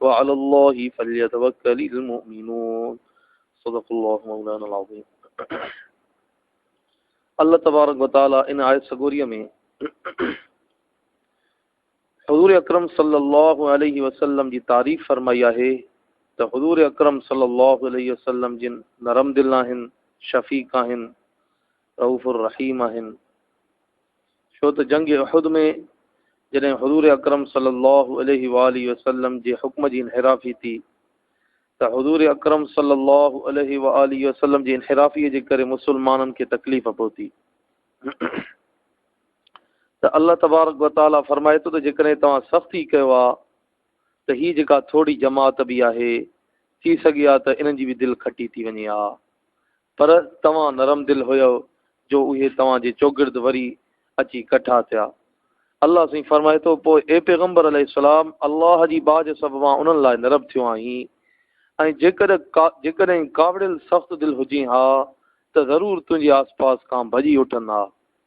وعلي الله فليتوکل المؤمنون صدق الله مولانا العظيم الله تبارڪ وتعالى ان آيت سڳوري ۾ حضور اڪرم صلي الله عليه وسلم جي تعريف فرمائي آهي ته حضور اڪرم صلي الله عليه وسلم جن نرم دل آهن شفيق آهن رئوف الرحيم آهن ڇو ته جنگ احد ۾ جڏهن حضور اڪرم صلي الله عليه واٰله وسلم جي حڪم جي انحرافي ٿي ته حضور اڪرم صلي الله عليه واٰله وسلم جي انحرافي جي ڪري مسلمانن کي تڪليف پهتي ته الله تبارڪ وتعالي فرمائي ٿو ته جيڪڏهن توهان سختي ڪيو آ ته هي جيڪا ٿوري جماعت به آهي ٿي سگهي آ ته انهن جي به دل کٽي ٿي وڃي آ پر توهان نرم دل هيؤ جو اهي توهان جي چوگرد وري اچي ڪٺا ٿيا. الله سائين فرمائي ٿو، پوء اي پيغمبر عليه السلام! الله جي ٻاجهه سببان انهن لاء نرم ٿيو آهين ۽ جيڪڏهن جيڪڏهن ڪاوڙيل سخت دل هجين ها ته ضرور تنهنجي آسپاس کان ڀڄي اٺن ها.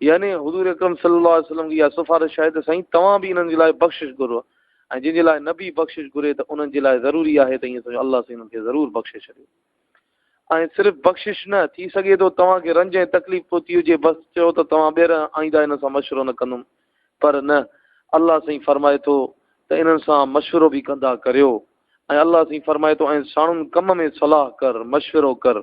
يعني حضور اڪرم صلّي اللّٰه عليه وسلّم جي اها سفارش آهي ته سائين توهان به انهن جي لاء بخشش گهرو ۽ جن جي لاء نبي بخشش گهري ته انهن جي لاء ضروري آهي ته ايئن سمجهو الله سائين انهن کي ضرور بخشي ڇڏيو ۽ صرف بخشش نه ٿي سگهي ٿو توهان کي رنج ۽ تڪليف پهتي هجي بس چئو ته توهان ٻيهر آئنده ان سان مشورو نه ڪندم پر نه الله سائين فرمائي ٿو ته انهن سان مشورو به ڪندا ڪريو ۽ الله سائين فرمائي ٿو ۽ ساڻن ڪم ۾ صلاح ڪر مشورو ڪر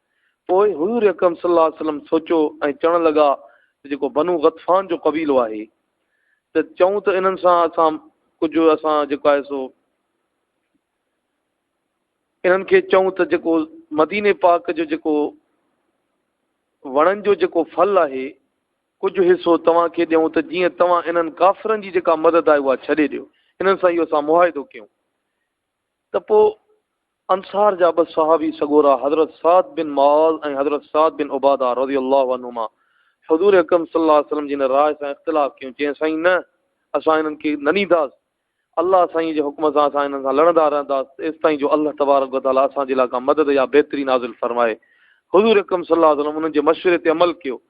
پوء حضور اڪرم صلي الله عليه وسلم سوچيو ۽ چوڻ لڳا ته جيڪو بنو غطفان جو قبيلو آهي ته چئون ته انهن سان اسان ڪجهه اسان جيڪو آهي سو انهن کي چئون ته جيڪو مديني پاڪ جو جيڪو وڻن جو جيڪو ڦل آهي ڪجهه حصو توهان کي ڏيون ته جيئن توهان انهن ڪافرن جي جيڪا مدد آهي اها ڇڏي ڏيو انهن سان اهو اسان معاهدو ڪيون ته پوء انصار جا ٻه صحابي سڳورا حضرت سعد بن معاذ ۽ حضرت سعد بن عباده رضي الله عنهما حضور اڪرم صلي الله عليه وسلم جي هن راء سان اختلاف ڪيون چين سائين نه اسان هنن کي نه ڏينداس الله سائين جي حڪم سان اسان هنن سان لڙندا رهنداس ايستائين جو الله تبارڪ وتعالي اسان جي لاء ڪا مدد يا بهتري نازل فرمائي حضور اڪرم صلي الله عليه وسلم انهن جي مشوري تي عمل ڪيو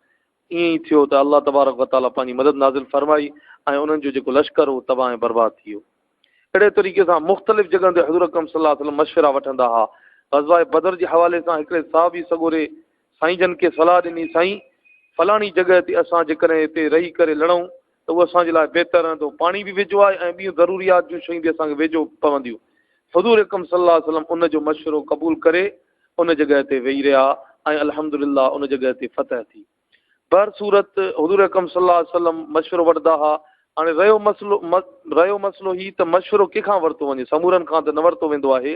ائين ئي ٿيو ته الله تبارڪ و تعاليٰ پنهنجي مدد نازل فرمائي ۽ انهن جو جيڪو لشڪر هو تباهه ۽ برباد ٿي ويو. اهڙي طريقي سان مختلف جڳهن تي حضور اڪرم صلي الله عليه وسلم مشورا وٺندا ها. غزوه بدر جي حوالي سان هڪڙي صحابي سڳوري سائين جن کي صلاح ڏني سائين! فلاڻي جڳهه تي اسان جيڪڏهن هتي رهي ڪري لڙون ته اهو اسان جي لاء بهتر رهندو، پاڻي به ويجهو آهي ۽ ٻيون ضروريات جون شيون به اسان کي ويجهو پونديون. حضور اڪرم صلي الله عليه وسلم ان جو مشورو قبول ڪري ان جڳهه تي ويهي رهيا ۽ الحمد لله ان جڳهه تي فتح ٿي. بهرصورت حضور اڪرم صلي الله عليه وسلم مشورو وٺندا ها. هاڻي رهيو مسئلو رهيو مسئلو هي ته مشورو ڪنهن کان ورتو وڃي، سمورن کان ته نه ورتو ويندو آهي.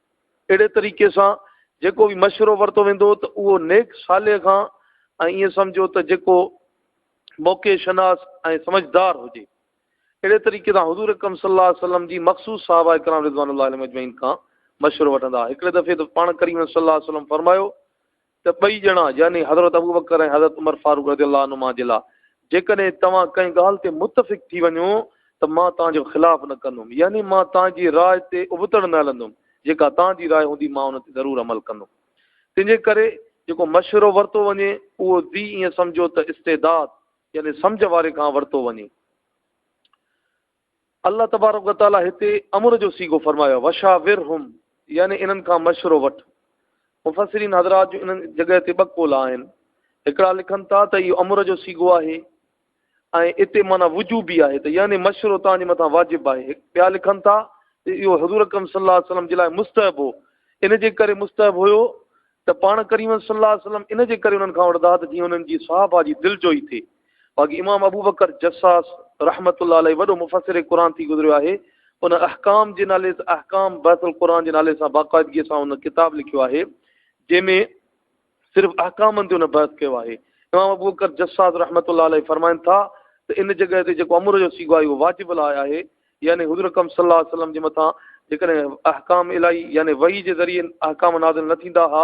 اهڙي طريقي سان جيڪو به مشورو ورتو ويندو ته اهو نيڪ صالح کان ۽ ائين سمجهو ته جيڪو موقعي شناس ۽ سمجهدار هجي. اهڙي طريقي سان حضور اڪرم صلي الله عليه وسلم جي مخصوص صحابه اڪرام رضوان الله عليهم اجمعين کان مشورو وٺندا. هڪڙي دفعي ته پاڻ ڪريم صلي الله عليه وسلم فرمايو ته ٻئي ڄڻا، يعني حضرت ابوبڪر ۽ حضرت عمر فاروق رضي الله عنهما جي لاء، جيڪڏهن توهان ڪنهن ڳالهه تي متفق ٿي وڃو ته مان توهان جو خلاف نه ڪندم، يعني مان توهان جي راء تي ابتڙ نه هلندم، جيڪا توهان جي راء هوندي مان ان تي ضرور عمل ڪندم. تنهن جي ڪري جيڪو مشورو ورتو وڃي، اهو ذي ائين سمجهو ته استعداد، يعني سمجهه واري کان ورتو وڃي. الله تبارڪ و تعاليٰ هتي امر جو صيغو فرمايو آهي وشاورهم يعني انهن کان مشورو وٺ مفسرين حضرات جو انهن جڳهه تي ٻه قول آهن هڪڙا لکن ٿا ته اهو امر جو صيغو آهي ۽ اتي معنی وجوب به آهي ته يعني مشورو تان جي مٿان واجب آهي ٻيا لکن ٿا ته اهو حضور اڪرم صلي الله عليه وسلم جي لاء مستحب هو ان جي ڪري مستحب هيو ته پاڻ ڪريم صلّي اللّٰه عليه وسلّم ان جي ڪري انهن کان وٺدا ته جيئن انهن جي صحابه جي دلجوئي ٿئي. باقي امام ابوبڪر جصّاص رحمة الله عليه وڏو مفسّر قرآن ٿي گذريو آهي. ان احڪام جي نالي سان احڪام بحث القرآن جي نالي سان باقاعدگيء سان ان ڪتاب لکيو آهي، جنهن ۾ صرف احڪامن تي ان بحث ڪيو آهي. امام ابوبڪر جصّاص رحمة الله عليه فرمائن ٿا ته ان جڳهه تي جيڪو امر جو صيغو آهي اهو واجب الاء آهي، يعني حضور اڪرم صلي الله عليه وسلم جي مٿان جيڪڏهن احڪام الٰهي يعني وحي جي ذريعي احڪام نازل نه ٿيندا ها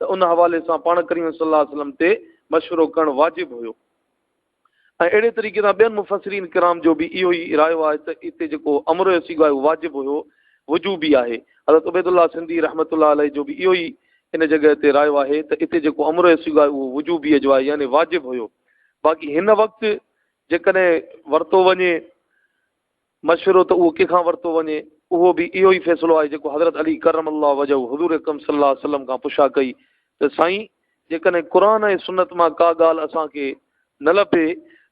ته ان حوالي سان پاڻ ڪريم صلي الله عليه وسلم تي مشورو ڪرڻ واجب هيو ۽ اهڙي طريقي سان ٻين مفسرين ڪرام جو به اهو ئي رايو آهي ته اتي جيڪو امر جو سيگو آهي واجب هيو وجو به آهي حضرت عبيد الله سنڌي رحمت الله عليه جو به اهو ئي ان جڳهه تي رايو آهي ته اتي جيڪو امر جو سيگو آهي اهو وجوبي جو آهي يعني واجب هيو باقي هن وقت جيڪڏهن ورتو وڃي مشورو ته اهو ڪنهن کان ورتو وڃي؟ اهو به اهو ئي فيصلو آهي جيڪو حضرت علي ڪرم الله وجهه حضور اڪرم صلي الله عليه وسلم کان پڇا ڪئي ته سائين جيڪڏهن قرآن ۽ سنت مان ڪا ڳالهه اسان کي نه لڀي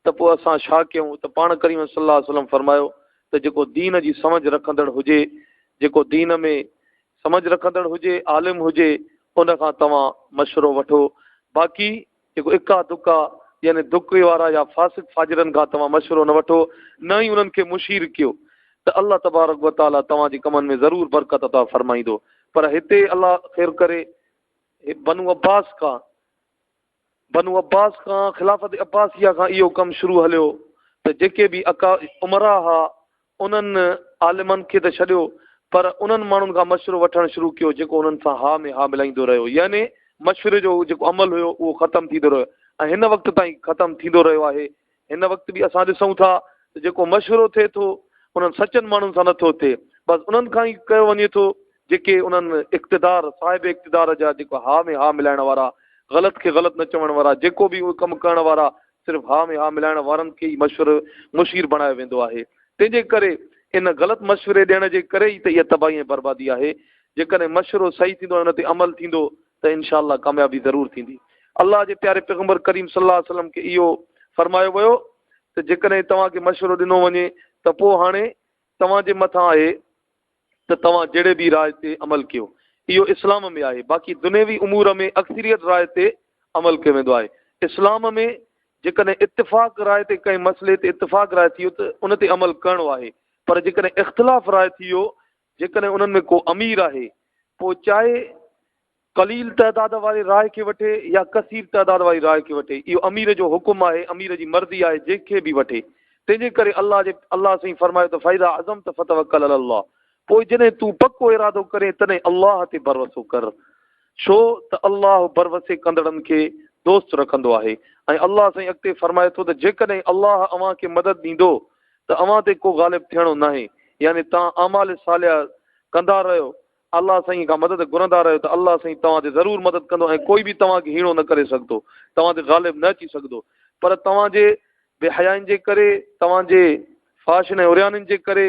ته پوء اسان ڇا ڪيون ته پاڻ ڪريم صلي الله عليه وسلم فرمايو ته جيڪو دين جي سمجھ رکندڙ هجي جيڪو دين ۾ سمجھ رکندڙ هجي عالم هجي ان کان توهان مشورو وٺو باقي جيڪو اڪا دڪا يعني دڪي وارا يا فاسق فاجرن کان توهان مشورو نه وٺو نه ئي انهن کي مشير ڪيو ته الله تبارڪ و تعالي توهان جي ڪمن ۾ ضرور برڪت عطا فرمائيندو پر هتي الله خير ڪري بنو عباس کان بنو عباس کان خلافت عباسيه کان اهو ڪم شروع هليو ته جيڪي به اڪا عمرا ها انهن عالمن کي ته ڇڏيو پر انهن ماڻهن کان مشورو وٺڻ شروع ڪيو جيڪو انهن سان ها ۾ ها ملائيندو رهيو يعني مشوري جو جيڪو عمل هيو اهو ختم ٿيندو رهيو ۽ هن وقت تائين ختم ٿيندو رهيو آهي هن وقت به اسان ڏسون ٿا ته جيڪو مشورو ٿئي ٿو انهن سچن ماڻهن سان نٿو ٿئي بس انهن کان ئي ڪيو وڃي ٿو جيڪي انهن اقتدار صاحب اقتدار جا جيڪو ها ۾ ها ملائڻ وارا غلط کي غلط نه چوڻ وارا جيڪو به اهو ڪم ڪرڻ وارا صرف ها ۾ ها ملائڻ وارن کي ئي مشور مشير بڻايو ويندو آهي. تنهن جي ڪري ان غلط مشوري ڏيڻ جي ڪري ئي ته اها تباهي ۽ بربادي آهي. جيڪڏهن مشورو صحيح ٿيندو ۽ ان تي عمل ٿيندو ته ان شاء الله ڪاميابي ضرور ٿيندي. الله جي پياري پيغمبر ڪريم صلي الله عليه وسلم کي اهو فرمايو ويو ته جيڪڏهن توهان کي مشورو ڏنو وڃي ته پوء هاڻي توهان جي مٿان آهي ته توهان جهڙي به راء تي عمل ڪيو، اهو اسلام ۾ آهي، باقي دنيوي امور ۾ اڪثريت راء تي عمل ڪيو ويندو آهي. اسلام ۾ جيڪڏهن اتفاق راء تي ڪنهن مسئلي تي اتفاق راء ٿيو ته ان تي عمل ڪرڻو آهي، پر جيڪڏهن اختلاف راء ٿيو، جيڪڏهن انهن ۾ ڪو امير آهي، پوء چاهي قليل تعداد واري راء کي وٺي يا ڪثير تعداد واري راء کي وٺي اهو امير جو حڪم آهي امير جي مرضي آهي جنهن کي به وٺي تنهن جي ڪري الله جي الله سائين فرمايو ته فاذا عزمت فتوڪل علي الله پوء جڏهن تون پڪو ارادو ڪرين تڏهن الله تي ڀروسو ڪر ڇو ته الله ڀروسي ڪندڙن کي دوست رکندو آهي ۽ الله سائين اڳتي فرمائي ٿو ته جيڪڏهن الله اوهان کي مدد ڏيندو ته اوهان تي ڪو غالب ٿيڻو ناهي يعني تان اعمال صالحه ڪندا رهيو الله سائين کان مدد گهرندا رهيو ته الله سائين توهان تي ضرور مدد ڪندو ۽ ڪوئي به توهان کي هيڻو نه ڪري سگهندو، توهان تي غالب نه اچي سگهندو، پر توهان جي بي حيائين جي ڪري، توهان جي فحاشين ۽ عريانين جي ڪري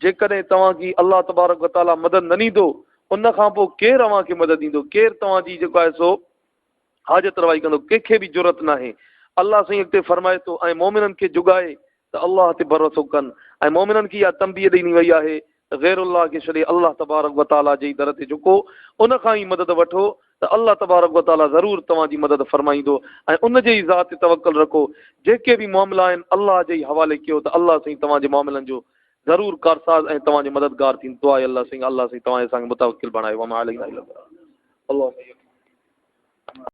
جيڪڏهن توهان کي الله تبارڪ و تعاليٰ مدد نه ڏيندو، ان کان پوء ڪير اوهان کي مدد ڏيندو، ڪير توهان جي جيڪو آهي سو حاجت روائي ڪندو ڪنهن کي به جرئت ناهي الله سائين اڳتي فرمائي ٿو ۽ مؤمنن کي جڳائي ته الله تي ڀروسو ڪن ۽ مؤمنن کي اها تنبيهه ڏني وئي آهي ته غير الله کي ڇڏي الله تبارڪ وتعاليٰ جي ئي در تي جهڪو ان کان ئي مدد وٺو ته الله تبارڪ وتعاليٰ ضرور توهان جي مدد فرمائيندو ۽ ان جي ئي ذات تي توڪل رکو جيڪي به معاملا آهن الله جي ئي حوالي ڪيو ته الله سائين توهان جي معاملن جو ضرور ڪارساز ۽ توهان جو مددگار ٿيندس دعا اي الله سنگ الله سائين توهان اسان کي متوڪل بڻايو وما علينا الا البلاغ اللهم يڪفينا